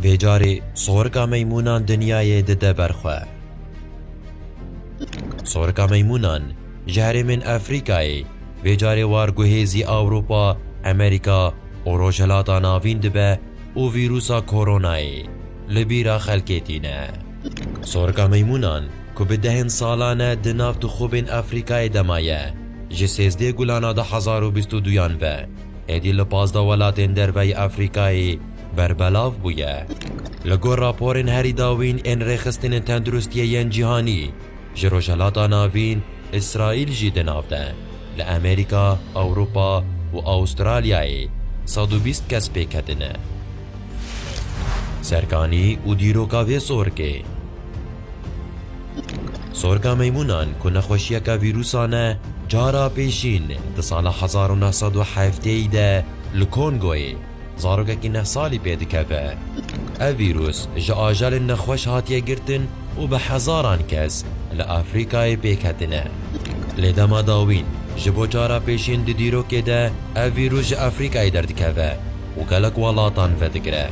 Vê carê sorika meymûnan dinyayê dide ber xwe. Sorika meymûnan ji herêmên Efrîkayê vê carê war guhêzî Ewropa, Amerîka û Rojhilata Navîn dibe û vîrûsa koronayê li bîra xelkê tîne. Sorika meymûnan ku bi dehên salan e di nav tixûbên Efrîkayê de maye, ji sêzdeh gulana du hezar û bîst û duyan ve êdî li pazdeh welatên derveyî Afrîkayê berbelav bûye. Li gor raporên herî dawîn ên Rêxistinên Tenduristiyê yên Cîhanî, ji Rojhilata Navîn, Îsraîl jî di nav de, li Amerîka, Ewropa û Astralyayê sed û bîst kes pêketine. Serkanî û dîroka vê sorkê. Sorga meymûnan ku nexweşiyeke vîrûsa ne, cara pêşîn di sala hezar û neh sed û hefteyê de li Kongoyê zarokekî neh salî pê dikeve. Ev vîrûs ji ajelên nexweş hatiye girtin û bi hezaran kes li Afrîkayê pêk hatine. Lê dema dawîn ji bo cara pêşîn di dîrokê de ev vîrûs ji Afrîkayê derdikeve û gelek welatan vedigire.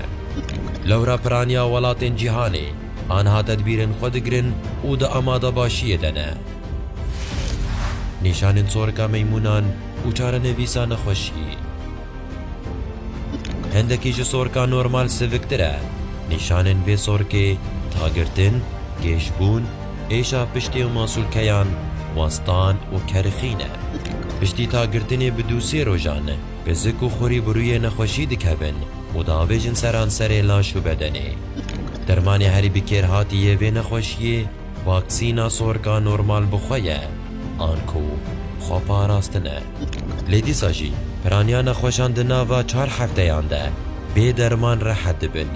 Lewra piraniya welatên cîhanê anha tedbîrên xwe digirin û di amadebaşiyê de ne. Nîşanên sorika meymûnan û çarenivîsa nexweşî. Hindekî ji sorika normal siviktir e. Nîşanên vê sorkê tagirtin, gêjbûn, êşa piştê û masûlkeyan, westan û kerixî ne. Piştî tagirtinê bi dû sê rojan Pizik û xurî bi rûyê nexweşî dikevin û diavêjin seranserê laş û bedenê. Dermanê herî bi kêrhatî yê vê nexweşiyê vaksîna sorka normal bi xwe ye an ku xweparastin e. Lê dîsa jî piraniya nexweşan di nava çar hefteyan de bê derman rehet dibin.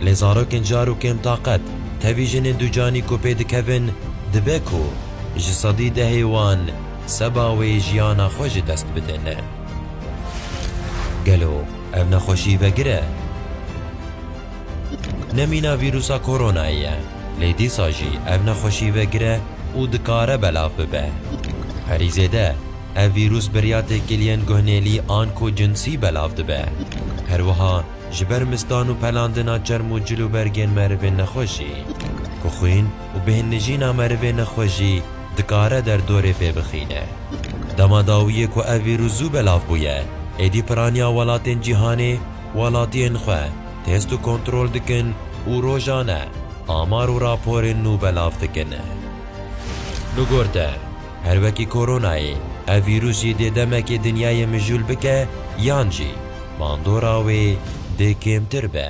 Lê zarokên car û kêmtaqet tevî jinên ducanî ku pê dikevin dibe ku ji sedî dehê wan seba wê jiyana xwe ji dest bide ne. Gelo ev nexweşî vegir e? Ne mîna vîrûsa koronayê ye, lê dîsa jî ev nexweşî vegir e û dikare belav bibe. Herî zêde ev vîrûs bi riya têkiliyên guhnêlî an ku cinsî belav dibe. Her wiha ji ber mistan û pelandina çerm û cil û bergên merivên nexweş jî. Ku xwîn û bêhnijîna merivê nexweş jî dikare derdorê pê bixîne. Dema dawiyê ku ev vîrus zû belav bûye, êdî piraniya welatên cîhanê welatiyên xwe test û kontrol dikin û rojane amar û raporên nû belav dikin. Bi gor te, her wekî koronayê, ev vîrus jî dê demekê dinyayê mijûl bike yan jî bandora wê dê kêmtir be.